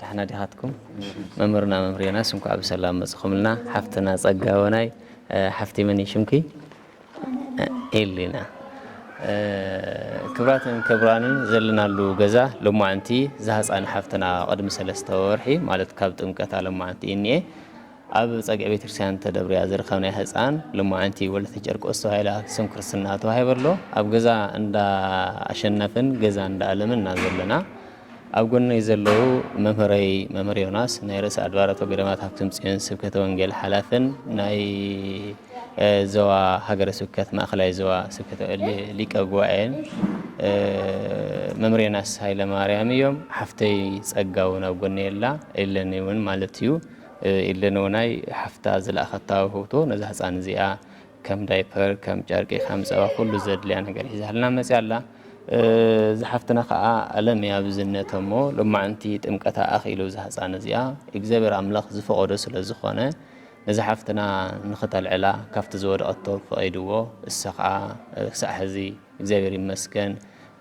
ዳሕና ዲኻትኩም መምህርና መምህር ዮናስ እንኳዕ ብሰላም መጽኹምልና ሓፍትና ጸጋ ወናይ ሓፍቲ መን ሽምኪ ኤሊና ክብራትን ክብራንን ዘለናሉ ገዛ ሎማዓንቲ ዝሃፃን ሓፍትና ቅድሚ ሰለስተ ወርሒ ማለት ካብ ጥምቀት ሎማዓንቲ እኒኤ ኣብ ጸግዒ ቤተክርስትያን ተደብርያ ዝረኸብናያ ህጻን ሎማዕንቲ ወለተ ጨርቆስ ተባሂላ ስም ክርስትና ተዋሂባ ኣሎ። ኣብ ገዛ እንዳ ኣሸናፍን ገዛ እንዳ ኣለምን እና ዘለና። ኣብ ጎነይ ዘለዉ መምህረይ መምህር ዮናስ ናይ ርእሰ ኣድባራት ወገዳማት ሃብቶም ጽዮን ስብከተ ወንጌል ሓላፍን ናይ ዞባ ሃገረ ስብከት ማእከላይ ዞባ ስብከተ ሊቀ ጉባኤን መምህር ዮናስ ሃይለ ማርያም እዮም። ሓፍተይ ጸጋ እውን ኣብ ጎነይ ኣላ ኢለኒ እውን ማለት እዩ። ኢለን እውናይ ሓፍታ ዝለኣኸታ ውህብቶ ነዛ ህፃን እዚኣ ከም ዳይፐር፣ ከም ጨርቂ፣ ከም ፀባ ኩሉ ዘድልያ ነገር ሒዛልና መፅያ ኣላ። እዛ ሓፍትና ከዓ ኣለም እያ ብዝነተ እሞ ሎማዕንቲ ጥምቀታ ኣኽኢሉ እዛ ህፃን እዚኣ እግዚኣብሔር ኣምላኽ ዝፈቐዶ ስለ ዝኾነ ነዛ ሓፍትና ንኽተልዕላ ካብቲ ዝወደቐቶ ፈቒድዎ እሳ ከዓ ክሳዕ ሕዚ እግዚኣብሔር ይመስገን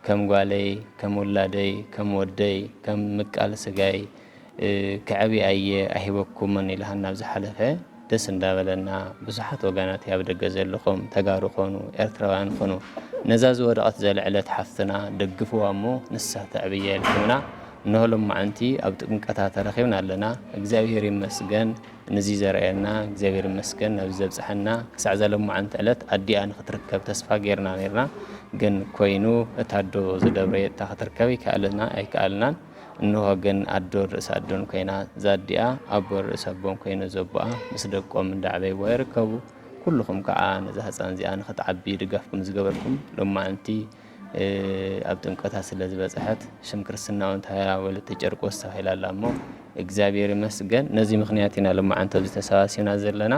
ከም ጓለይ ከም ውላደይ ከም ወደይ ከም ምቃል ስጋይ ክዐብይ ኣየ ኣይሂበኩምን ኢልሃና ኣብ ዝሓለፈ ደስ እንዳበለና ብዙሓት ወጋናተይ ኣብ ደገ ዘለኹም ተጋሩ ኮኑ ኤርትራውያን ኹኑ ነዛ ዝወደቐት ዘልዕለት ሓፍትና ደግፍዋ እሞ ንሳ ተዕብየ ኢልኩምና እነሆ ሎማዓንቲ ኣብ ጥምቀታ ተረኺብና ኣለና እግዚኣብሄር ይመስገን ንዚ ዘርኣየና እግዚኣብሄር ይመስገን ናብዚ ዘብጽሐና ክሳዕ እዛ ሎማዓንቲ ዕለት ኣዲኣ ንኽትርከብ ተስፋ ጌርና ኔርና ግን ኮይኑ እታ ኣዶ ዝደብረየታ ክትርከብ ኣይከኣልና ኣይከኣልናን እንሆ ግን ኣዶ ርእሲ ኣዶን ኮይና ዛዲኣ ኣቦ ርእሲ ኣቦን ኮይኑ ዘቦኣ ምስ ደቆም እንዳዕበይዋ ይርከቡ ኩሉኹም ከዓ ነዛ ህፃን እዚኣ ንክትዓቢ ድጋፍኩም ዝገበርኩም ሎማዕንቲ ኣብ ጥምቀታ ስለ ዝበፅሐት ሽም ክርስትና እውን ተባሂላ ወለተ ጨርቆስ ተባሂላ ኣላ እሞ እግዚኣብሔር ይመስገን ነዚ ምክንያት ኢና ሎማዕንቲ ኣብዚ ተሰባሲብና ዘለና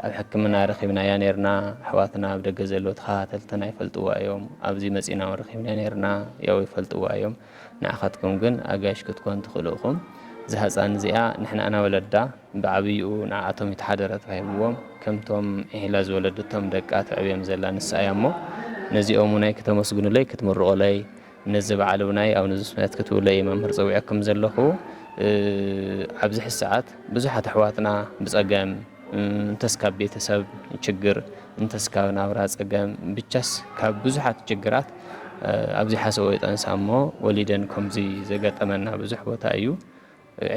ኣብ ሕክምና ረኺብናያ ኔርና ኣሕዋትና ኣብ ደገ ዘለዉ ተኸታተልትና ይፈልጥዋ እዮም ኣብዚ መጺና ውን ረኺብና ኔርና ያው ይፈልጥዋ እዮም ንዓኻትኩም ግን ኣጋይሽ ክትኮን ትኽእሉ እኹም እዛ ህጻን እዚኣ ንሕና እና ወለዳ ብዓብይኡ ንዓኣቶም ይተሓደረ ተባሂብዎም ከምቶም ዒሒላ ዝወለደቶም ደቃ ተዕብዮም ዘላ ንሳ እያ እሞ ነዚኦም ውናይ ክተመስግኑለይ ክትምርቑለይ ነዚ በዓል ውናይ ኣብ ንዙስነት ክትብሎ እየ መምህር ፀዊዐኩም ዘለኹ። ኣብዚ ሕዚ ሰዓት ብዙሓት ኣሕዋትና ብፀገም እንተስ ካብ ቤተሰብ ችግር እንተስ ካብ ናብራ ፀገም ብቻስ ካብ ብዙሓት ችግራት ኣብዚ ሓሰቦ ይጠንሳ እሞ ወሊደን ከምዚ ዘጋጠመና ብዙሕ ቦታ እዩ።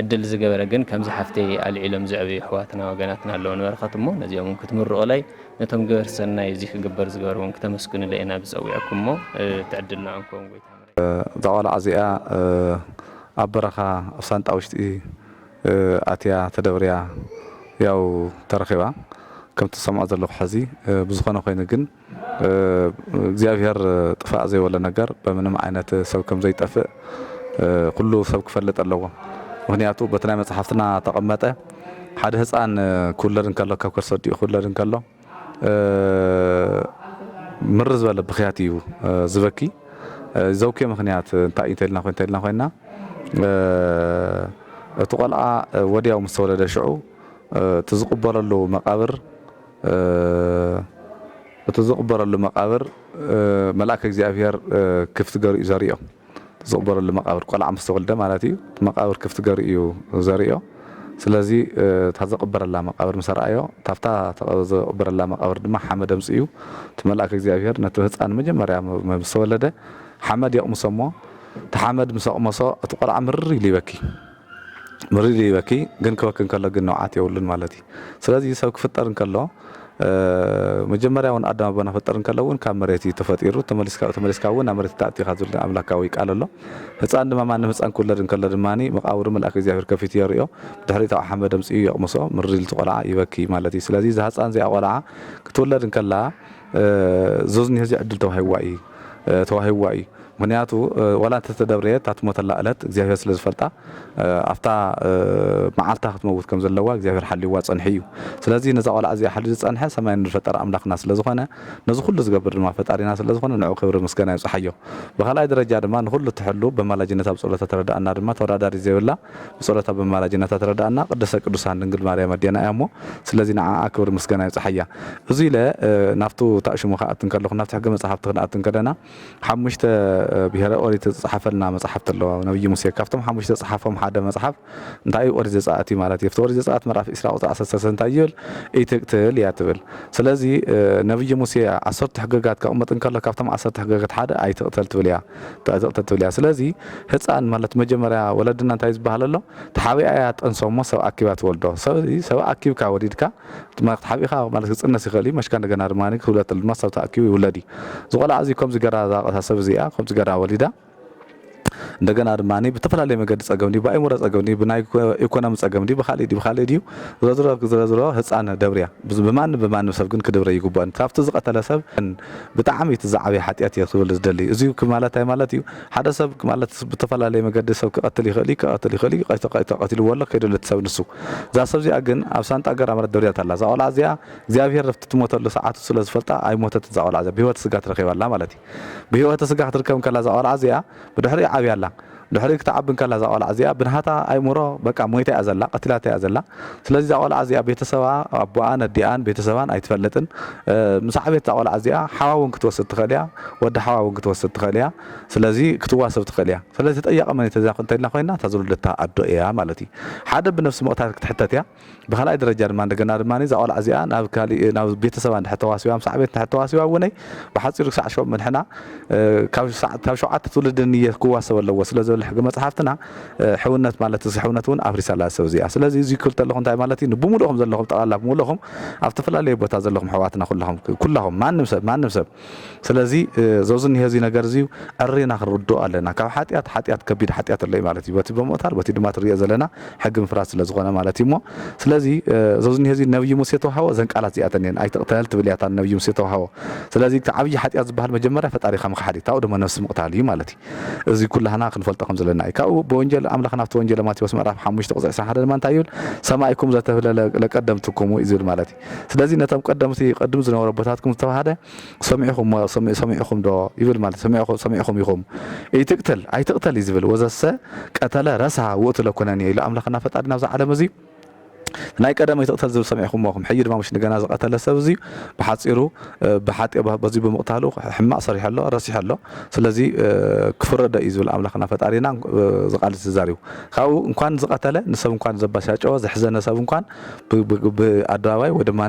ዕድል ዝገበረ ግን ከምዚ ሓፍተይ ኣልዒሎም ዘዕብዩ ኣሕዋትና ወገናትና ኣለዉ ንበረኸት እሞ ነዚኦም ውን ክትምርቑለይ ነቶም ገበርቲ ሰናይ እዚ ክግበር ዝገበሩ ውን ክተመስግኑለይ ኢና ዝጸዊዕኩም እሞ እቲ ዕድል ንዖም ክኸውን ጎይታ ምሕረት እዛ ቆልዓ እዚኣ ኣብ በረኻ ኣብ ሳንጣ ውሽጢ ኣትያ ተደብርያ ያው ተረኺባ ከምቲ ዝሰምዖ ዘለኹ ሐዚ ብዝኾነ ኮይኑ ግን እግዚኣብሔር ጥፋእ ዘይበሎ ነገር በምንም ዓይነት ሰብ ከም ዘይጠፍእ ኩሉ ሰብ ክፈልጥ ኣለዎ ምክንያቱ በቲ ናይ መጽሓፍትና ተቀመጠ ሓደ ህፃን ክውለድ እንከሎ ካብ ከርሰ ኣዲኡ ክውለድ እንከሎ ምር ዝበለ ብክያት እዩ ዝበኪ ዘውኪ ምክንያት እንታይ እዩ እንተልና ኮይ እንተልና ኮይና እቲ ቆልዓ ወዲያው ምስ ተወለደ ሽዑ እቲ ዝቕበለሉ መቃብር እቲ ዝቕበረሉ መቓብር መልኣከ እግዚኣብሔር ክፍቲ ገርኡ እዩ ዘሪኦ። እቲ ዝቕበረሉ መቓብር ቆልዓ ምስ ተወልደ ማለት እዩ። እቲ መቓብር ክፍቲ ገርኡ እዩ ዘሪኦ። ስለዚ እታ ዘቐበረላ መቓብር ምስ ረኣዮ ታፍታ ዘቐበረላ መቓብር ድማ ሓመድ ኣምጺኡ እቲ መልኣከ እግዚኣብሔር ነቲ ህጻን መጀመርያ ምስ ተወለደ ሓመድ የቕምሶ እሞ እቲ ሓመድ ምስ ኣቕመሶ እቲ ቆልዓ ምርር ኢሉ ይበኪ። መሪር ይበኪ ግን ክበኪ እንከሎ ግን ንብዓት የብሉን ማለት እዩ ስለዚ ሰብ ክፍጠር እንከሎ መጀመርያ እውን ኣዳም ኣቦና ፍጠር እንከሎ እውን ካብ መሬት እዩ ተፈጢሩ ተመሊስካ ተመሊስካ እውን ናብ መሬት ተኣቲኻ ዝብል ኣምላካዊ ቃል ኣሎ ህፃን ድማ ማንም ህፃን ክውለድ እንከሎ ድማ መቃብሩ መልኣክ እግዚኣብሔር ከፊቱ የርእዮ ድሕሪ ታብ ሓመድ ኣምፅኡ የቕምሶ ምሪር ኢልቲ ቆልዓ ይበኪ ማለት እዩ ስለዚ እዛ ህፃን እዚኣ ቆልዓ ክትውለድ እንከላ ዞዝኒ ህዚ ዕድል ተዋሂብዋ እዩ ተዋሂብዋ እዩ ምኽንያቱ ዋላ እንተ ተደብረየት እታ ትሞተላ እለት እግዚኣብሄር ስለ ዝፈልጣ ኣብታ መዓልታ ክትመውት ከም ዘለዋ እግዚኣብሄር ሓልይዋ ጸንሑ እዩ። ስለዚ ነዛ ቆልዓ እዚኣ ሓልዩ ዝጸንሐ ሰማይ ምድሪ ዝፈጠረ ኣምላኽና ስለ ዝኾነ ነዚ ኩሉ ዝገብር ድማ ፈጣሪና ስለ ዝኾነ ንዕኡ ክብሪ ምስገና ይብጽሓዮ። ብኻልኣይ ደረጃ ድማ ንኹሉ እትሕሉ በማላጅነታ ብጸሎታ ትረድኣና ድማ ተወዳዳሪት ዘይብላ ብጸሎታ በማላጅነታ ትረድኣና ቅድስተ ቅዱሳን ድንግል ማርያም ኣዴና እያ እሞ ስለዚ ንዓኣ ክብሪ ምስገና ይብጽሓያ። እዙይ ኢለ ናብቱ ታእሽሙ ክኣቱ እንከለኹ ናብቲ ሕገ መጽሓፍቲ ክንኣቱ እንከለና ሓሙሽተ ብሄረ ኦሪት ዝተጻሓፈልና መጻሕፍቲ ኣለዋ ነብዪ ሙሴ ካብቶም ሓሙሽተ ዝጸሓፎም ሓደ መጽሓፍ እንታይ እዩ ኦሪት ዘጸኣት እዩ ማለት እዩ ኣብቲ ኦሪት ዘጸኣት ምዕራፍ ኢስራ ቁጽሪ ዓሰርተ ሰለስተ እንታይ ይብል ኢትቅትል እያ ትብል ስለዚ ነብዪ ሙሴ ዓሰርቱ ሕገጋት ከቕምጥ እንከሎ ካብቶም ዓሰርተ ሕገጋት ሓደ ኣይትቕተል ትብል እያ ኣይትቕተል ትብል እያ ስለዚ ህጻን ማለት መጀመርያ ወለድና እንታይ ዝበሃል ኣሎ ተሓቢኣ እያ ጠንሶ እሞ ሰብ ኣኪባ ትወልዶ ሰብ ኣኪብካ ወሊድካ ድማ ክትሓብኢኻ ማለት ክጽነስ ይኽእል እዩ መሽካ እንደገና ድማ ክብለተሉ ድማ ሰብ ተኣኪቡ ይውለድ እዩ እዚ ቆልዓ እዚ ከምዚ ገራ ዛቐታ ሰብ እዚኣ ከምዚ ገራ ወሊዳ እንደገና ድማ ብተፈላለየ መገዲ ጸገም ድዩ ብኣይምሮ ጸገም ድዩ ብናይ ኢኮኖሚ ጸገም ድዩ ብካልእ ድዩ ብካልእ ድዩ ዝረዝሮ ዝረዝሮ ህፃን ደብርያ ብማንም ብማንም ሰብ ግን ክድብረ ይግብኦን ካብቲ ዝቀተለ ሰብ ብጣዕሚ እቲ ዝዓበየ ሓጢኣት እየ ክብል ዝደሊ እዚ ማለት እንታይ ማለት እዩ ሓደ ሰብ ማለት ብተፈላለየ መገዲ ሰብ ክቀትል ይኽእል እዩ ክቀትል ይኽእል እዩ ተቀቲልዎ ኣሎ ከይደሎ እቲ ሰብ ንሱ እዛ ሰብ እዚኣ ግን ኣብ ሳንጣ ገራ ማለት ደብሪያት ኣላ እዛ ቆልዓ እዚኣ እግዚኣብሄር ኣብቲ ትሞተሉ ሰዓቱ ስለ ዝፈልጣ ኣይሞተትን እዛ ቆልዓ እዚኣ ብህይወተ ስጋ ትረኪባ ኣላ ማለት እዩ ብህይወተ ስጋ ክትርከብ እንከላ እዛ ቆልዓ እዚኣ ብድሕሪኡ ዓብያ ኣላ ድሕሪኡ ክትዓቢ እንከላ እዛ ቆልዓ እዚኣ ብናሃታ ኣይምሮ በቃ ሞይታ እያ ዘላ ቀቲላታ እያ ዘላ ስለዚ እዛ ቆልዓ እዚኣ ቤተሰባ ኣቦኣን ኣዲኣን ቤተሰባን ኣይትፈልጥን ምስ ዓበየት እዛ ቆልዓ እዚኣ ሓዋ እውን ክትወስድ ትኽእል እያ ወዲ ሓዋ እውን ክትወስድ ትኽእል እያ ስለዚ ክትዋሰብ ትኽእል እያ ስለዚ ተጠያቂ መን እዩ እንተኢልና ኮይና እታ ዝወለደታ ኣዶ እያ ማለት እዩ ሓደ ብነፍሲ መቕታል ክትሕተት እያ ብካልኣይ ደረጃ ድማ እንደገና ድማ እዛ ቆልዓ እዚኣ ናብ ካሊእ ናብ ቤተሰባ እንድሕር ተዋሲባ ምስ ዓበየት እንድሕር ተዋሲባ እውነይ ብሓፂሩ ክሳዕ ሸው ምንሕና ካብ ሸውዓተ ትውልዲ ንየ ክዋሰብ ኣለዎ ስለ ዝብል ሕጊ መፅሓፍትና ሕውነት ማለት እዚ ሕውነት እውን ኣፍሪሳላ ሰብ እዚኣ ስለዚ እዚ ክብል ተለኹ እንታይ ማለት እዩ ንብምሉእኹም ዘለኹም ጠቕላላ ብምሉእኹም ኣብ ተፈላለየ ቦታ ዘለኹም ሕዋትና ኩላኹም ኩላኹም ማንም ሰብ ማንም ሰብ ስለዚ ዞዚ እኒሀ እዚ ነገር እዚ ዕሪና ክንርድኦ ኣለና ካብ ሓጢኣት ሓጢኣት ከቢድ ሓጢኣት ኣሎ ማለት እዩ በቲ ብምቕታል በቲ ድማ ትሪኦ ዘለና ሕጊ ምፍራስ ስለ ዝኾነ ማለት እዩ እሞ ስለዚ ዞዚ እኒሀ እዚ ነብዩ ሙሴ ተዋሃቦ ዘን ቃላት እዚኣተን እየን ኣይትቕተል ትብል እያታ ነብዩ ሙሴ ተዋሃቦ ስለዚ እቲ ዓብዪ ሓጢኣት ዝበሃል መጀመርያ ፈጣሪኻ ምኽሓድ እዩ ካብኡ ድማ ነብሲ ምቕታል እዩ ማለት እዩ እዚ ኩላህና ክንፈልጦ ከም ዘለና እዩ። ካብኡ ብወንጀል ኣምላኽን ኣብቲ ወንጀለ ማቴዎስ ምዕራፍ ሓሙሽተ ቁጽሪ ዕስራን ሓደን ድማ እንታይ ይብል ሰማይኩም ዘተብህለ ለቀደምትኩም እዩ ዝብል ማለት እዩ። ስለዚ ነቶም ቀደምቲ ቅድም ዝነበሩ ኣቦታትኩም ዝተባህለ ሰሚዕኹሞ ሰሚዕኹም ዶ ይብል ማለት ሰሚዕኹ ሰሚዕኹም ኢኹም ኢትቅትል ኣይትቅተል እዩ ዝብል ወዘሰ ቀተለ ረሳ ውእቱ ለኮነንየ ኢሉ ኣምላኽና ፈጣሪና ኣብዚ ዓለም እዚ ናይ ቀደም ኣይትቕተል ዝብል ሰሚዕኩሞ ኣኹም ሕጂ ድማ ምሽ ንገና ዝቐተለ ሰብ እዚ ብሓጺሩ ብሓጢ በዚ ብምቕታሉ ሕማቕ ሰሪሑ ኣሎ ረሲሑ ኣሎ ስለዚ ክፍረዶ እዩ ዝብል ኣምላኽና ፈጣሪና ዝቃልስ ዝዛሪቡ ካብኡ እንኳን ዝቐተለ ንሰብ እንኳን ዘባሻጨወ ዘሕዘነ ሰብ እንኳን ብኣደባባይ ወይ ድማ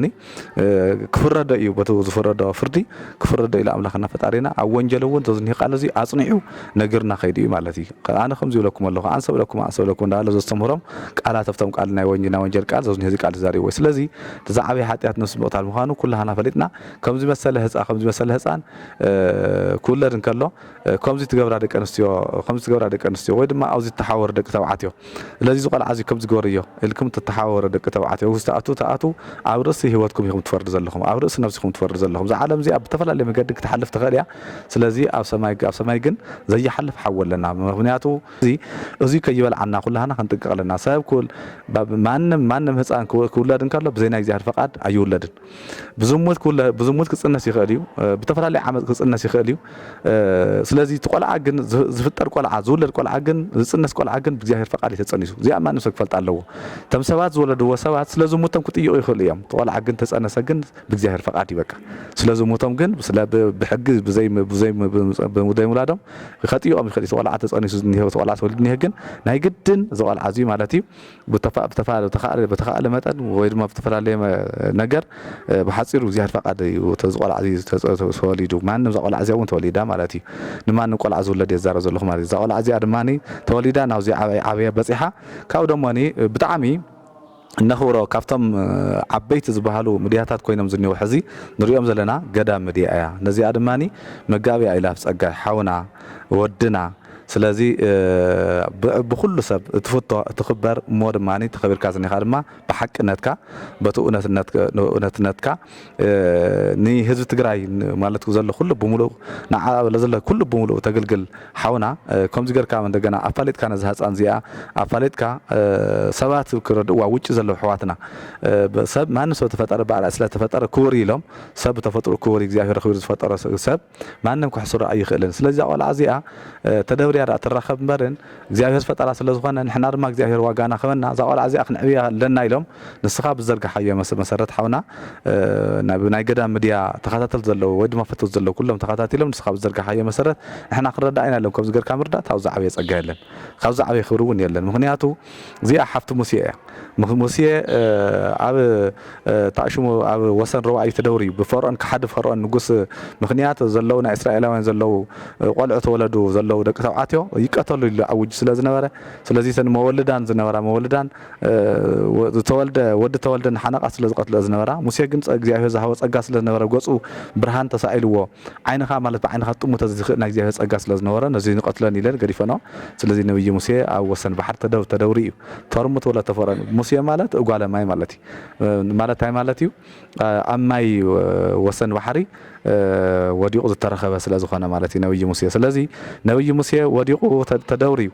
ክፍረዶ ኢዩ በቲ ዝፍረዶ ፍርዲ ክፍረዶ ኢዩ ኣምላኽና ፈጣሪና ኣብ ወንጀል እውን ተዝኒህ ቃል እዚ ኣጽኒዑ ነግርና ከይዱ ኢዩ ማለት ኢዩ ኣነ ከምዚ ይብለኩም ኣለኹ ኣንሰብለኩም ኣንሰብለኩም እንዳለ ዘስተምህሮም ቃላት ኣብቶም ቃል ናይ ወንጀል ናይ ወንጀል ቃል ዘዝኒህ እዚ ቃል ተዛሪብዎ ስለዚ ተዛዓበየ ሓጢኣት ነብሲ ምቕታል ምዃኑ ኩላህና ፈሊጥና ከምዚ መሰለ ህጻ ከምዚ መሰለ ህጻን ክውለድ እንከሎ ከምዚ ትገብራ ደቂ ኣንስትዮ ከምዚ ትገብራ ደቂ ኣንስትዮ ወይ ድማ ኣብዚ ትተሓወሩ ደቂ ተባዕትዮ ስለዚ እዚ ቆልዓ እዚ ከምዚ ግበርዮ ኢልኩም ትተሓወሩ ደቂ ተባዕትዮ ውስቲ ኣቱ ትኣትው ኣብ ርእሲ ሂወትኩም ኢኹም ትፈርዱ ዘለኹም ኣብ ርእሲ ነብስኹም ትፈርዱ ዘለኹም እዛ ዓለም እዚኣ ብተፈላለየ መገዲ ክትሓልፍ ትኽእል እያ ስለዚ ኣብ ሰማይ ኣብ ሰማይ ግን ዘይሓልፍ ሓዊ ኣለና ምኽንያቱ እዚ እዙይ ከይበልዓና ኩላህና ክንጥንቀቕ ኣለና ሰብ ኩል ማንም ማንም ህፃን ክውለድ እንከሎ ብዘይ ናይ እግዚኣብሔር ፈቃድ ኣይውለድን ብዝሙት ክውለ ብዝሙት ክጽነስ ይኽእል እዩ ብተፈላለየ ዓመጽ ክጽነስ ይኽእል እዩ ስለዚ እቲ ቆልዓ ግን ዝፍጠር ቆልዓ ዝውለድ ቆልዓ ግን ዝጽነስ ቆልዓ ግን ብእግዚኣብሔር ፈቃድ ተጸኒሱ እዚኣ ማንም ሰብ ክፈልጥ ኣለዎ እቶም ሰባት ዝወለድዎ ሰባት ስለ ዝሙቶም ክጥይቁ ይኽእሉ እዮም ቆልዓ ግን ተጸነሰ ግን ብእግዚኣብሔር ፈቃድ እዩ በቃ ስለ ዝሙቶም ግን ስለ ብሕጊ ብዘይ ብዘይ ብዘይ ሙላዶም ከጥይቆም ይኽእል እዩ ቆልዓ ተጸኒሱ ዝኒሄ ቆልዓ ተወልድ ኒሄ ግን ናይ ግድን እዚ ቆልዓ እዚ ማለት እዩ ብተኻእለ መጠን ወይ ድማ ብዝተፈላለየ ነገር ብሓጺሩ እግዚኣብሔር ፈቃድ እዩ እቲ ቆልዓ እዚ ተወሊዱ ማንም እዛ ቆልዓ እዚኣ እውን ተወሊዳ ማለት እዩ ንማንም ቆልዓ ዝውለድ እየ ዝዛረብ ዘለኹ ማለት እዩ እዛ ቆልዓ እዚኣ ድማ ተወሊዳ ናብዚ ዓብይ ዓብያ በፂሓ ካብኡ ደሞ ብጣዕሚ እነኽብሮ ካብቶም ዓበይቲ ዝበሃሉ ምድያታት ኮይኖም ዝኒው ሕዚ ንሪኦም ዘለና ገዳም ምድያ እያ ነዚኣ ድማ መጋቢያ ኢላፍ ፀጋይ ሓውና ወድና ስለዚ ብ ብኹሉ ሰብ እትፍቶ እትኽበር እሞ ድማ ተኸቢርካ ዝኒኻ ድማ ብሓቅነትካ በቲ እውነትነት እውነትነትካ ንህዝቢ ትግራይ ማለት ዘሎ ኩሉ ብምሉእ ንዓ ለዘለ ኩሉ ብምሉእ ተግልግል ሓውና ከምዚ ገርካ እንደገና ኣፋሊጥካ ነዛ ህፃን እዚኣ ኣፋሊጥካ ሰባት ክረድእዋ ውጪ ዘለዉ ኣሕዋትና ሰብ ማንም ሰብ ተፈጠረ ብኣርኣያ ስለተፈጠረ ክቡር እዩ ኢሎም ሰብ ብተፈጥርኡ ክቡር እዩ እግዚኣብሔር ኣኽቢሩ ዝፈጠሮ ሰብ ማንም ከሕስሮ ኣይኽእልን ስለዚ እዛ ቆልዓ እዚኣ ተደብርያ ደኣ ትራኸብ እምበርን እግዚኣብሔር ፈጠራ ስለ ዝኾነ ንሕና ድማ እግዚኣብሔር ዋጋና ክበና እዛ ቆልዓ እዚኣ ክንዕብያ ኣለና ኢሎም ንስኻ ብዘርጋሓዮ መሰረት ሓውና ናብ ናይ ገዳም ምድያ ተኸታተልቲ ዘለዉ ወይ ድማ ፈተውቲ ዘለዉ ኩሎም ተኸታቲሎም ንስኻ ብዘርጋሓዮ መሰረት ንሕና ክንረዳእ ኢና ኢሎም ከምዚ ገርካ ምርዳእ ካብዚ ዓበየ ጸጋ የለን ካብዚ ዓበየ ክብሪ እውን የለን ምክንያቱ እዚኣ ሓፍቲ ሙስየ እያ። ሙስየ ኣብ ታእሽሙ ኣብ ወሰን ሮብዓዩ ተደውርዩ ብፈርኦን ከሓዲ ፈርኦን ንጉስ ምክንያት ዘለዉ ናይ እስራኤላውያን ዘለዉ ቆልዑ ተወለዱ ዘለዉ ደቂ ተብዓትዮ ይቀተሉ ኢሉ ኣውጁ ስለ ዝነበረ ስለዚ እተን መወልዳን ዝነበራ መወልዳን ዝተወልደ ወዲ ተወልደ ንሓነቃ ስለ ዝቀትልኦ ዝነበራ ሙስየ ግን እግዚኣብሔር ዝሃቦ ጸጋ ስለ ዝነበረ ገጹ ብርሃን ተሳኢልዎ ዓይንኻ ማለት ብዓይንኻ ትጥምቶ ዝኽእል ናይ እግዚኣብሔር ጸጋ ስለ ዝነበሮ ነዙይ ንቐትለን ኢለን ገዲፈንኦ ስለዙይ ነብዪ ሙሴ ኣብ ወሰን ባሕሪ ተደው ተደውሪ እዩ ተርሙት ወለ ተፈረን ሙሴ ማለት እጓለ ማይ ማለት እዩ ማለት እንታይ ማለት እዩ ኣብ ማይ ወሰን ባሕሪ ወዲቑ ዝተረኸበ ስለ ዝኾነ ማለት እዩ ነብዪ ሙሴ ስለዙይ ነብዪ ሙሴ ወዲቑ ተደውሪ እዩ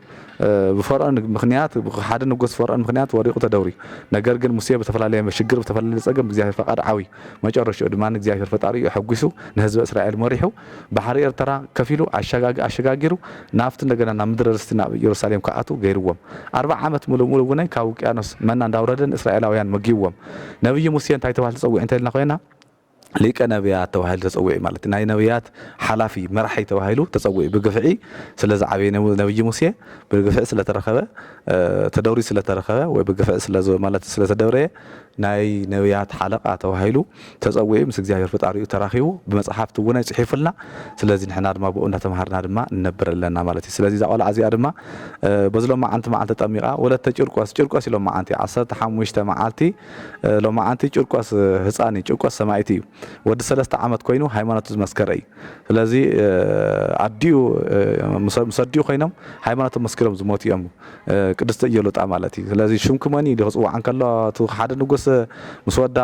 ብፈርኦን ምክንያት ሓደ ንጉስ ፈርኦን ምክንያት ወዲቑ ተደውሪ ነገር ግን ሙሴ ብተፈላለየ ሽግር ብተፈላለየ ጸገም ብእግዚኣብሔር ፈቃድ ዓብዩ መጨረሽኡ ድማ እግዚኣብሄር ፈጣሪኡ ኣሐጒሱ ንህዝበ እስራኤል መሪሑ ባሕሪ ኤርትራ ከፊሉ ኣሻጋጊ ኣሸጋጊሩ ናብቲ እንደገና ናብ ምድረ ርስቲ ናብ ኢየሩሳሌም ክኣትዉ ገይርዎም ኣርብዓ ዓመት ምሉእ ምሉእ እውነይ ካብ ውቅያኖስ መና እንዳውረደ ንእስራኤላውያን መጊብዎም ነብዪ ሙሴ እንታይ ተባሂሉ ተጸዊዑ እንተኢልና ኮይና ሊቀ ነብያት ተባሂሉ ተጸዊዑ ማለት ናይ ነብያት ሓላፊ መራሒ ተባሂሉ ተጸዊዑ ብግፍዒ ስለ ዝዓበየ ነብዪ ሙሴ ብግፍዒ ስለ ተረከበ ተደውሪ ስለ ተረከበ ወይ ብግፍዒ ስለ ማለት ስለ ተደብረየ ናይ ነብያት ሓለቃ ተባሂሉ ተጸዊዑ ምስ እግዚኣብሔር ፍጣሪኡ ተራኪቡ ብመጽሓፍቲ እውነይ ጽሒፉልና ስለዚ ንሕና ድማ ብኡ እንዳተማሃርና ድማ ንነብር ኣለና ማለት እዩ ስለዚ እዛ ቆልዓ እዚኣ ድማ በዚ ሎማዓንቲ መዓልቲ ተጠሚቃ ወለተ ጭርቆስ ጭርቆስ እዩ ሎማዓንቲ ዓሰርተ ሓሙሽተ መዓልቲ ሎማዓንቲ ጭርቆስ ህጻን እዩ ጭርቆስ ሰማኢት እዩ ወዲ ሰለስተ ዓመት ኮይኑ ሃይማኖቱ ዝመስከረ እዩ ስለዚ ኣዲኡ ምስ ኣዲኡ ኮይኖም ሃይማኖቶም መስኪሮም ዝሞቱ እዮም ቅድስቲ እየሉጣ ማለት እዩ ስለዚ ሽምኪ መን እዩ ኢሉ ክፅዋዕ እንከሎ እቲ ሓደ ንጉስ ምስ ወዳ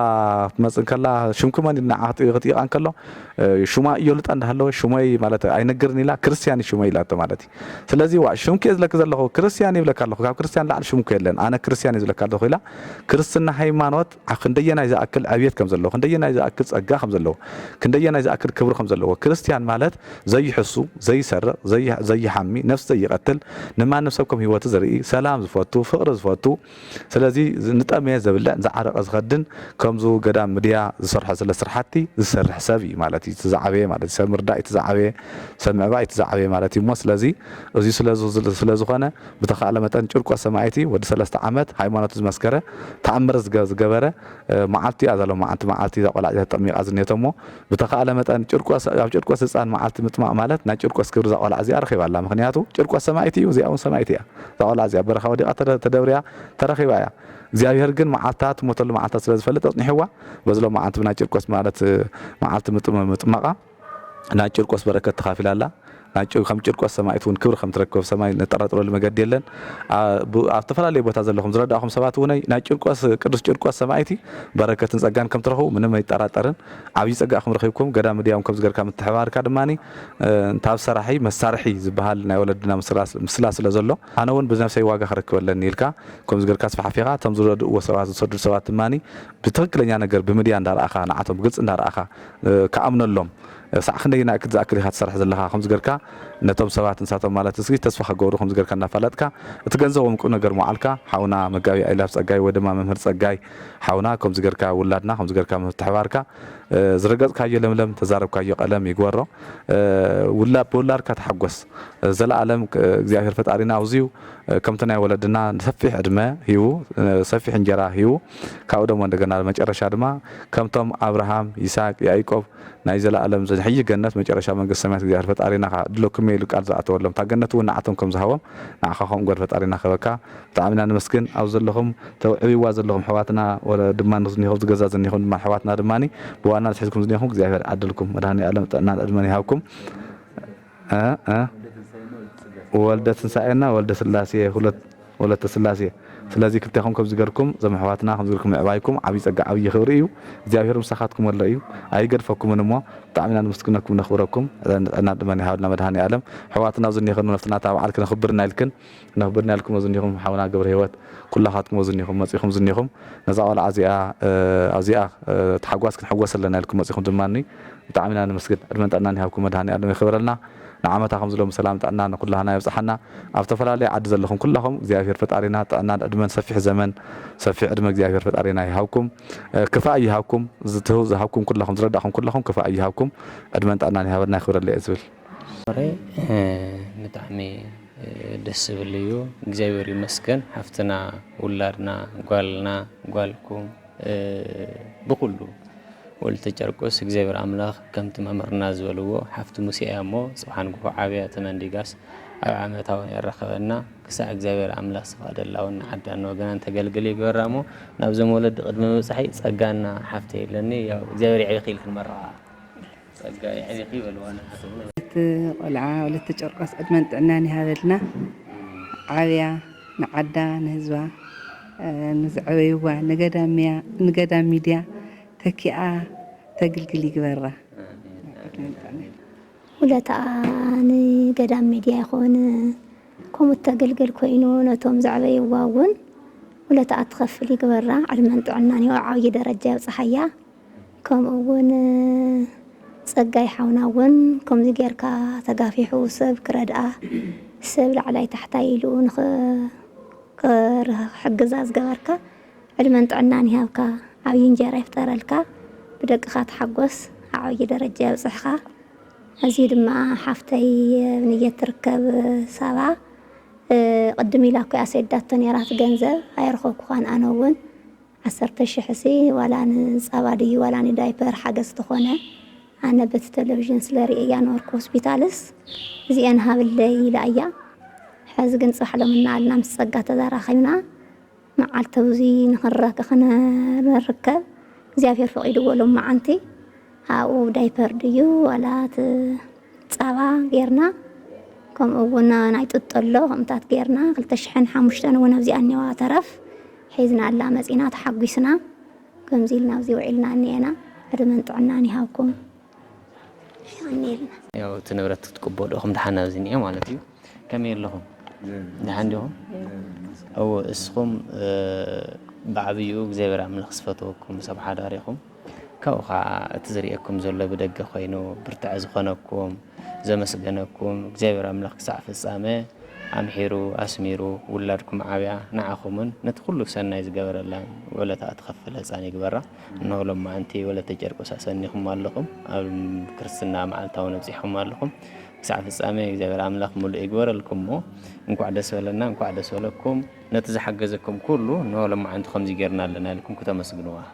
ክትመፅእ ከላ ሽምኪ መን ኢሉ ንዓ ክጥይቃ እንከሎ ሹማ እየሉጣ እንዳሃለወ ሹመይ ማለት ኣይነግርን ኢላ ክርስትያን እዩ ሹመይ ኢላቶ ማለት እዩ ስለዚ ዋ ሽምኪ እየ ዝለኪ ዘለኹ ክርስትያን ይብለካ ኣለኹ ካብ ክርስትያን ላዕሊ ሽምኩ የለን ኣነ ክርስትያን እዩ ዝብለካ ኣለኹ ኢላ ክርስትና ሃይማኖት ክንደየናይ ዝኣክል ዕብየት ከም ዘለዎ፣ ክንደየናይ ዝኣክል ጸጋ ከም ዘለዎ፣ ክንደየናይ ዝኣክል ክብሪ ከም ዘለዎ፣ ክርስትያን ማለት ዘይሕሱ፣ ዘይሰርቕ፣ ዘይሓሚ፣ ነፍሲ ዘይቐትል፣ ንማንም ሰብ ከም ህይወቱ ዝርኢ፣ ሰላም ዝፈቱ፣ ፍቕሪ ዝፈቱ፣ ስለዚ ንጠመየ ዘብልዕ፣ ንዝዓረቐ ዝኸድን፣ ከምዙ ገዳም ምድያ ዝሰርሖ ዘለ ስርሓቲ ዝሰርሕ ሰብ እዩ ማለት እዩ እቲ ዝዓበየ ማለት እዩ። ሰብ ምርዳእ እቲ ዝዓበየ፣ ሰብ ምዕባይ እቲ ዝዓበየ ማለት እዩ እሞ ስለዚ እዙይ ስለዝኾነ፣ ብተኻእለ መጠን ጭርቆስ ሰማኢቲ ወዲ ሰለስተ ዓመት ሃይማኖቱ ዝመስከረ ተኣምር ዝገበረ መዓልቱ እያ ዛሎም መዓልቲ መዓልቲ እዛ ቆልዓ እዚኣ ተጠሚቃ ዝኔቶ እሞ ብተኻእለ መጠን ጭርቆስ ኣብ ጭርቆስ ህፃን መዓልቲ ምጥማቅ ማለት ናይ ጭርቆስ ክብሪ እዛ ቆልዓ እዚኣ ረኺባ ኣላ ምክንያቱ ጭርቆስ ሰማኢቲ እዩ እዚኣ እውን ሰማኢቲ እያ እዛ ቆልዓ እዚኣ በረኻ ወዲቃ ተደብርያ ተረኺባ እያ እግዚኣብሄር ግን መዓልታ ትሞተሉ መዓልታ ስለ ዝፈልጥ ኣፅኒሕዋ በዝሎም መዓልቲ ብናይ ጭርቆስ ማለት መዓልቲ ምጥማቃ ናይ ጭርቆስ በረከት ተኻፊላ ኣላ። ናይ ከም ጭርቆስ ሰማኢት እውን ክብሪ ከም ትረክብ ኣብ ሰማይ ነጠራጥረሉ መገዲ የለን። ኣብ ኣብ ዝተፈላለየ ቦታ ዘለኹም ዝረዳእኹም ሰባት እውነይ ናይ ጭርቆስ ቅዱስ ጭርቆስ ሰማኢቲ በረከትን ጸጋን ከም ትረኽቡ ምንም ኣይጠራጠርን። ዓብይ ጸጋ ከም ረኺብኩም ገዳም ምድያም ከምዚ ገርካ ምትሕብባርካ ድማ እንተ ኣብ ሰራሒ መሳርሒ ዝበሃል ናይ ወለድና ምስላ ምስላ ስለ ዘሎ ኣነ እውን ብነብሰይ ዋጋ ክረክብ ኣለኒ ኢልካ ከምዚ ገርካ ኣስፋሕፊኻ እቶም ዝረድእዎ ሰባት ዝሰዱ ሰባት ድማ ብትኽክለኛ ነገር ብምድያ እንዳ ረኣኻ ንዓቶም ብግልጺ እንዳ ረኣኻ ክኣምነሎም ክሳዕ ክንደይ ኢና እክት ዝኣክል ኢካ ትሰርሕ ዘለካ ከምዚ ገርካ ነቶም ሰባት ንሳቶም ማለት እስኪ ተስፋ ክገብሩ ከምዚ ገርካ እናፋለጥካ እቲ ገንዘቦም ቁምነገር ምውዓልካ ሓውና መጋቢ ኣይላፍ ጸጋይ ወይ ድማ መምህር ጸጋይ ሓውና ከምዚ ገርካ ውላድና ከምዚ ገርካ ምትሕባርካ ዝረገጽካዮ ለምለም ተዛረብካዮ ቀለም ይግበሮ ውላድ ብውላድካ ተሓጎስ ዘለኣለም እግዚኣብሔር ፈጣሪና ኣውዝዩ ከምቲ ናይ ወለድና ሰፊሕ ዕድመ ሂቡ ሰፊሕ እንጀራ ሂቡ ካብኡ ደሞ እንደገና ኣብ መጨረሻ ድማ ከምቶም ኣብርሃም ይስሃቅ ያኢቆብ ናይ ዘላኣለም ዘሕይ ገነት መጨረሻ መንግስተ ሰማያት እግዚኣብሔር ፈጣሪና ከኣ ድለኩምየ ኢሉ ቃል ዝኣተወሎም እታ ገነት እውን ንዓቶም ከም ዝሃቦም ንዓካ ከምኡ ግበር ፈጣሪና ክህበካ ብጣዕሚ ኢና ነመስግን ኣብ ዘለኩም ተብዕብዋ ዘለኩም ኣሕዋትና ወለ ድማ ዝኒኩም ዝገዛ ዝኒኩም ድማ ኣሕዋትና ድማ ብዋናነት ሒዝኩም ዝኒኩም እግዚኣብሔር ይዓድልኩም መድሃኒኣለም ጥዕናን ዕድመን ይሃብኩም። እህ ወልደ ትንሳኤ እና ወልደ ስላሴ ሁለት ወለተ ስላሴ ስለዚ ክልቴኹም ከምዚ ገርኩም ዞም ኣሕዋትና ከምዚ ገርኩም ምዕባይኩም ዓብይ ጸጋ ዓብይ ክብሪ እዩ እግዚኣብሄር ምሳኻትኩም ኣሎ እዩ ኣይገድፈኩምን እሞ ብጣዕሚ ኢና ንምስግነኩም ነኽብረኩም ዕድመን ጥዕናን ድማ ይሃበልና መድሃኔ ኣለም ኣሕዋትና ኣብዚ እኒክን ነፍስና ታባዓል ክነኽብር እና ኢልክን ናብ ጎድና ኢልኩሞ ዝኒኹም ሓውና ገብረሂወት ኩላኻትኩሞ ዝኒኹም መጺኹም ዝኒኹም ነዛ ቆልዓ እዚኣ ኣብዚኣ ታሕጓስ ክንሕጎስ ኣለና ኢልኩም መጺኹም ድማ ብጣዕሚ ኢና ነመስግን ዕድመን ጥዕናን ይሃብኩም መድሃኒኣለም የኽብረልና ንዓመታ ከምዚ ሎሚ ሰላም ጥዕና ንኩላህና የብጽሓና ኣብ ዝተፈላለየ ዓዲ ዘለኹም ኩላኹም እግዚኣብሄር ፈጣሪና ጥዕናን ዕድመን ሰፊሕ ዘመን ሰፊሕ ዕድመ እግዚኣብሄር ፈጣሪና ይሃብኩም ክፋእ ኣይሃብኩም ዝሃብኩም ኩላኹም ዝረዳእኹም ኩላኹም ክፋእ ኣይሃብኩም ዕድመን ጥዕናን ይሃበልና የኽብረለይ እየ ዝብል ወረ ብጣዕሚ ደስ ዝብል እዩ እግዚኣብሔር ይመስገን ሓፍትና ውላድና ጓልና ጓልኩም ብኩሉ ወልተ ጨርቆስ እግዚኣብሔር ኣምላኽ ከምቲ መምህርና ዝበልዎ ሓፍቲ ሙሴ እያ እሞ ፅባሕ ንግሆ ዓብያ ተመንዲጋስ ኣብ ዓመታ እውን የራኸበና ክሳዕ እግዚኣብሔር ኣምላኽ ዝፈቅደላ እውን ንዓዳን ንወገናን ተገልግል ይግበራ እሞ ናብዞም ወለዲ ቅድሚ ምብፃሕይ ፀጋና ሓፍተይ ኣለኒ ያው እግዚኣብሔር የዕቢኺ ኢልክን መርቓ ጸጋ የሕቢኪ በልዋ ንሓትኡ። እቲ ቆልዓ ወለተ ጨርቆስ ዕድመን ጥዕናን ይሃበልና ዓብያ ንዓዳ ንህዝባ ንዝዐበይዋ ንገዳም ሚድያ ተኪኣ ተግልግል ይግበራ ዕድመን ጥዕናን። ውለታኣ ንገዳም ሚድያ ይኹን ከምኡ እተግልግል ኮይኑ ነቶም ዘዕበይዋ እውን ውለታኣ ትኸፍል ይግበራ ዕድመን ጥዕናን ይብዓ ዓብዪ ደረጃ የብፅሓያ። ከምኡ ውን ጸጋይ ሓውና ውን ከምዚ ጌርካ ተጋፊሑ ሰብ ክረድኣ ሰብ ላዕላይ ታሕታይ ኢሉ ንክሕግዛ ዝገበርካ ዕድመን ጥዕናን ይሃብካ ዓብይ እንጀራ ይፍጠረልካ ብደቅኻ ተሓጎስ ዓዕብይ ደረጃ የብጽሕኻ ኣዝዩ ድማ ሓፍተይ ኣብንየት ትርከብ ሳባ ቅድም ኢላ እኮ እያ ሰዲዳቶ ኔራ እቲ ገንዘብ ኣየረከብኩኻን ኣነ ውን ዓሰርተ ሽሕ'ሲ ዋላ ንጻባ ድዩ ዋላ ንዳይፐር ሓገዝ ተኾነ ኣነ በቲ ተለቪዥን ስለ ርእየያ ነበርኩ ሆስፒታልስ እዚኤን ሃብለይ ኢላ'ያ ሕዚ ግን ጽባሕ ሎሚ እናበልና ምስ ጸጋ ተዘራኺብና መዓልቲ ብዙይ ንኽንረክ ክንርከብ እግዚኣብሔር ፈቒድዎ ሎመዓንቲ ኣብኡ ዳይፐር ድዩ ዋላ እቲ ጻባ ጌርና ከምኡ እውን ናይ ጥጦ ኣሎ ከምታት ጌርና ክልተ ሽሕን ሓሙሽተን እውን ኣብዚኣ እኒዋ ተረፍ ሒዝናላ መጺና ተሓጒስና ከምዚ ኢልና ኣብዚ ውዒልና እኒኤና ዕድመን ጥዕናን ይሃብኩም የቀንየልና። ያው እቲ ንብረት ክትቅበሉ ኢኹም ደሓን ኣብዚ እኒኦ ማለት እዩ ከመይ ኣለኹም ደሓን ዲኹም እወ እስኹም ብዓብይኡ እግዚኣብሔር ኣምላኽ ዝፈተወኩም ሰብ ሓዳር ኢኹም። ካብኡ ከኣ እቲ ዝርእየኩም ዘሎ ብደገ ኮይኑ ብርታዐ ዝኾነኩም ዘመስገነኩም እግዚኣብሔር ኣምላኽ ክሳዕ ፍጻመ ኣምሒሩ ኣስሚሩ ውላድኩም ዓብያ ንዓኹምን ነቲ ኩሉ ሰናይ ዝገበረላን ውዕለታ እትኸፍል ህጻን ይግበራ እንሆ ሎማዕንቲ ወለተ ጨርቆስ ኣሰኒኹም ኣለኹም ኣብ ክርስትና መዓልታዊ ነብጺሕኹም ኣለኹም ክሳዕ ፍጻሜ እግዚኣብሔር ኣምላኽ ምሉእ ይግበረልኩም እሞ እንኳዕ ደስ በለና እንኳዕ ደስ በለኩም ነቲ ዝሓገዘኩም ኩሉ እንሆ ሎማዕንቲ ከምዚ ጌርና ኣለና ኢልኩም ክተመስግንዋ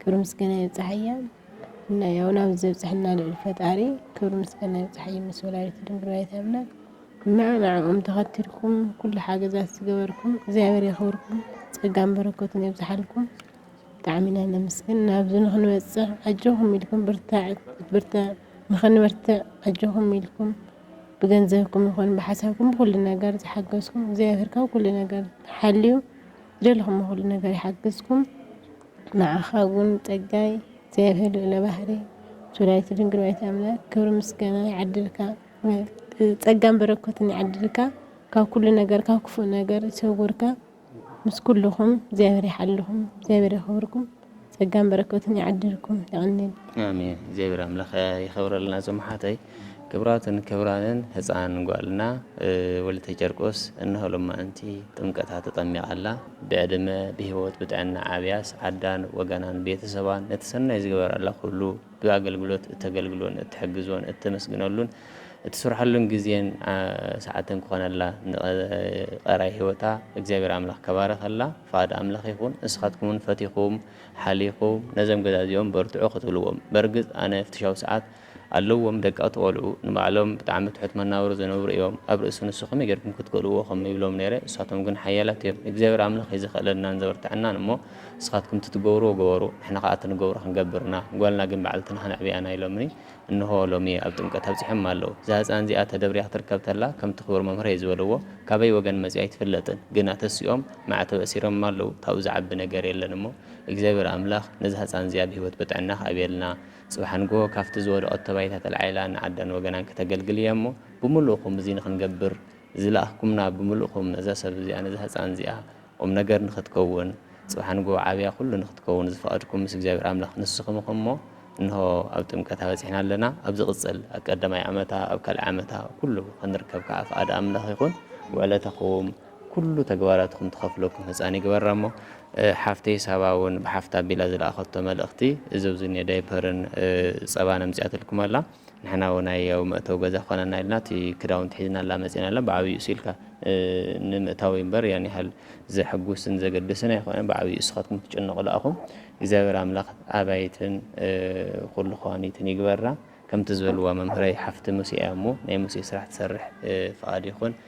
ክብሪ ምስጋና ይብጻሓያ እና ያው ናብ ዘብጽሕና ልዑል ፈጣሪ ክብሪ ምስጋና ይብጻሓዩ ምስ ወላዲቱ ድንግል ወላዲተ ኣምላክ እና ንዕኦም ተኸትልኩም ኩሉ ሓገዛት ዝገበርኩም እግዚኣብሔር የኽብርኩም ጸጋን በረከቱን የብዝሓልኩም ብጣዕሚ ኢና ነመስግን ናብዚ ንክንበፅሕ ኣጆኹም ኢልኩም ብርታዕ ንክንበርትዕ ኣጆኹም ኢልኩም ብገንዘብኩም ይኹን ብሓሳብኩም ብኩሉ ነገር ዝሓገዝኩም እግዚኣብሔር ካብ ኩሉ ነገር ሓልዩ ዝደለኹም ኩሉ ነገር ይሓግዝኩም ንዓኻ ውን ጸጋይ እግዚኣብሔር ልዑለ ባህሪ ሱራይት ድንግል ወላዲተ ኣምላክ ክብሪ ምስጋና ይዓድልካ ጸጋን በረከትን ይዓድልካ ካብ ኩሉ ነገር ካብ ክፉእ ነገር ይሰውርካ ምስ ኩልኹም እግዚኣብሔር ይሓልኹም እግዚኣብሔር የኽብርኩም ጸጋን በረከትን ይዓድልኩም ይቀኒል ኣሜን እግዚኣብሔር ኣምላኽ ይኸብረልና ዘመሓተይ ክብራትን ክብራንን ህፃን ጓልና ወለተ ጨርቆስ እነሆ ሎማእንቲ ጥምቀታ ተጠሚቓ ኣላ ብዕድመ ብሂወት ብጥዕና ኣብያስ ዓዳን ወገናን ቤተሰባን ነቲ ሰናይ ዝገበረላ ኩሉ ብኣገልግሎት እተገልግሎን እትሕግዞን እተመስግነሉን እትስርሐሉን ግዜን ሰዓትን ክኾነላ ንቀራይ ሂወታ እግዚኣብሔር ኣምላኽ ከባረኸላ ፍቃድ ኣምላኽ ይኹን ንስኻትኩምውን ፈቲኹም ሓሊኹም ነዞም ገዛ እዚኦም በርትዑ ክትብልዎም በርግጽ ኣነ ፍትሻዊ ሰዓት ኣለዎም ደቀቅቲ ቆልዑ ንባዕሎም ብጣዕሚ ትሑት መናብሮ ዝነብሩ እዮም ኣብ ርእሲ ንሱ ከመይ ገርኩም ክትክእልዎ ከም ይብሎም ነይረ ንሳቶም ግን ሓያላት እዮም እግዚኣብሔር ኣምላክ እዩ ዘክእለናን ዘበርተዐናን እሞ ንስካትኩም እቲ ትገብርዎ ግበሩ ንሕና ከኣ እቲ ንገብሮ ክንገብር ኢና ጓልና ግን ባዕልትና ከነዕብያና ኢሎምኒ እንሆ ሎሚ ኣብ ጥምቀት ኣብጺሖማ ኣለው እዛ ህጻን እዚኣ ተደብርያ ክትርከብ ተላ ከምቲ ክቡር መምህረይ ዝበልዎ ካበይ ወገን መጺኣ ኣይትፍለጥን ግና ተሲኦም ማዕተብ ኣሲሮምማ ኣለው ካብኡ ዝዓቢ ነገር የለን እሞ እግዚኣብሔር ኣምላክ ነዛ ህጻን እዚኣ ብህይወት ብጥዕና ክኣብየልና ጽባሕ ንግሆ ካብቲ ዝወደቐቶ ባይታ ተላዒላ ንዓዳን ወገናን ከተገልግል እያ እሞ፣ ብምሉእኩም እዚ ንኽንገብር ዝለኣኽኩምና ብምሉእኩም ነዛ ሰብ እዚኣ ነዛ ህጻን እዚኣ ቁም ነገር ንኽትከውን ጽባሕ ንግሆ ዓብያ ኩሉ ንኽትከውን ዝፈቐድኩም ምስ እግዚኣብሔር ኣምላኽ ንስኹም ኢኹም እሞ እንሆ ኣብ ጥምቀታ በጺሕና ኣለና ኣብ ዝቕጽል ኣብ ቀዳማይ ዓመታ ኣብ ካልኣይ ዓመታ ኩሉ ክንርከብ ከኣ ፍቓድ ኣምላኽ ይኹን ውዕለታኹም ኩሉ ተግባራትኩም ትኸፍለኩም ህጻን ይግበራ እሞ ሓፍተይ ሳባ ውን ብሓፍታ ኣቢላ ዝለኣኸቶ መልእኽቲ እዚ ኣብዚ ዝኒኦ ዳይፐርን ጸባን ኣምጺኣትልኩም ኣላ ንሕና ውን ኣይ ኣብ መእተዊ ገዛ ክኾነና ኢልና እቲ ክዳውንቲ ሒዝናላ መጺና ኣላ ብዓብይኡ እሱኢልካ ንምእታዊ እምበር ያን ያህል ዘሕጉስን ዘገድስን ኣይኮነን ብዓብይኡ እስኻትኩም ትጭነቑሉ ኣኹም እግዚኣብሔር ኣምላኽ ኣባይትን ኩሉ ከዋኒትን ይግበራ ከምቲ ዝበልዋ መምህረይ ሓፍቲ ሙሴ እያ እሞ ናይ ሙሴ ስራሕ ትሰርሕ ፍቓድ ይኹን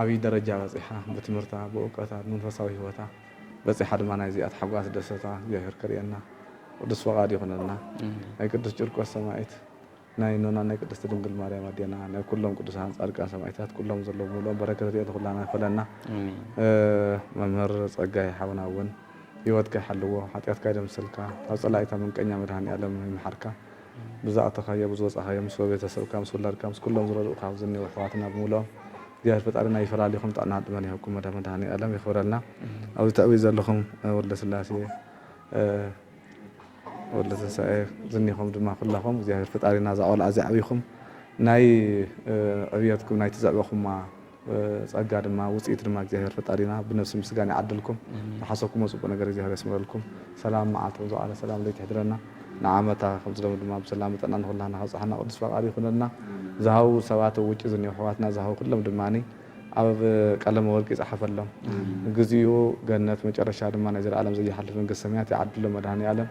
ዓብይ ደረጃ በጺሓ ብትምህርታ ብእውቀታ ብመንፈሳዊ ሂወታ በጺሓ ድማ ናይ እዚኣ ታሕጓስ ደሰታ እግዚኣብሔር ከርእየና ቅዱስ ፈቃድ ይኹነልና ናይ ቅዱስ ጭርቆስ ሰማኢት ናይ እኖና ናይ ቅድስቲ ድንግል ማርያም ኣዴና ናይ ኩሎም ቅዱሳን ጻድቃን ሰማኢታት ኩሎም ዘለዉ ሙሉኦም በረከት ርእየት ኩላና ይክፈለና መምህር ጸጋይ ሓውና እውን ሂወትካ ይሓልዎ ሓጢኣትካ ይደምስልካ ካብ ጸላኢታ ምንቀኛ መድሃኒኣለም ይምሓርካ ብዝኣተኻዮ ብዝወጻኻዮ ምስ በቤተሰብካ ምስ ውላድካ ምስ ኩሎም ዝረድኡኻ ኣብዚ ዝኒኤው ኣሕዋትና ብምሉኦም እግዚኣብሔር ፈጣሪና ይፈላሊኹም ጥዕናን ዕድመን ይሃብኩም መዳ መድሃኒኣለም የኽብረልና ኣብዚ ተዕብዩ ዘለኹም ወልደ ስላሴ ወልደ ትንሳኤ ዝኒኹም ድማ ኩላኹም እግዚኣብሔር ፈጣሪና እዛ ቆልዓ እዚኣ ኣዕቢኹም ናይ ዕብየትኩም ናይቲ ዘዕበኹማ ጸጋ ድማ ውጽኢት ድማ እግዚኣብሔር ፈጣሪና ብነብሲ ምስጋና ይዓድልኩም ዝሓሰብኩሞ ጽቡቅ ነገር እግዚኣብሔር የስምረልኩም ሰላም መዓልቲ ከም ዝወዓለ ሰላም ለይቲ ይሕድረና ንዓመታ ከምዚ ሎሚ ድማ ብሰላምን ጥዕናን ንኩላህና ከብጽሓና ቅዱስ ፈቃዱ ይኩነልና ዝሃቡ ሰባት ኣብ ውጪ ዝኒሀው ኣሕዋትና ዝሃቡ ኩሎም ድማ ኣብ ቀለመ ወርቂ ይጽሓፈሎም ግዚኡ ገነት መጨረሻ ድማ ናይ ዘለኣለም ዘይሓልፍ መንግስተ ሰማያት ይዓድሎም መድሃኒኣለም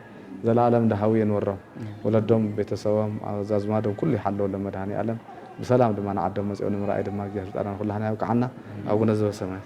ዘላኣለም ዳሃዊ የንብሮም ወለዶም ቤተሰቦም ኣዛዝማዶም ኩሉ ይሓልወሎም መድሃኒኣለም ብሰላም ድማ ንዓዶም መጽኦም ንምርኣይ ድማ እግዚኣብሔር ፈጣሪና ኩላህና ያብቅዓና ኣቡነ ዘበሰማያት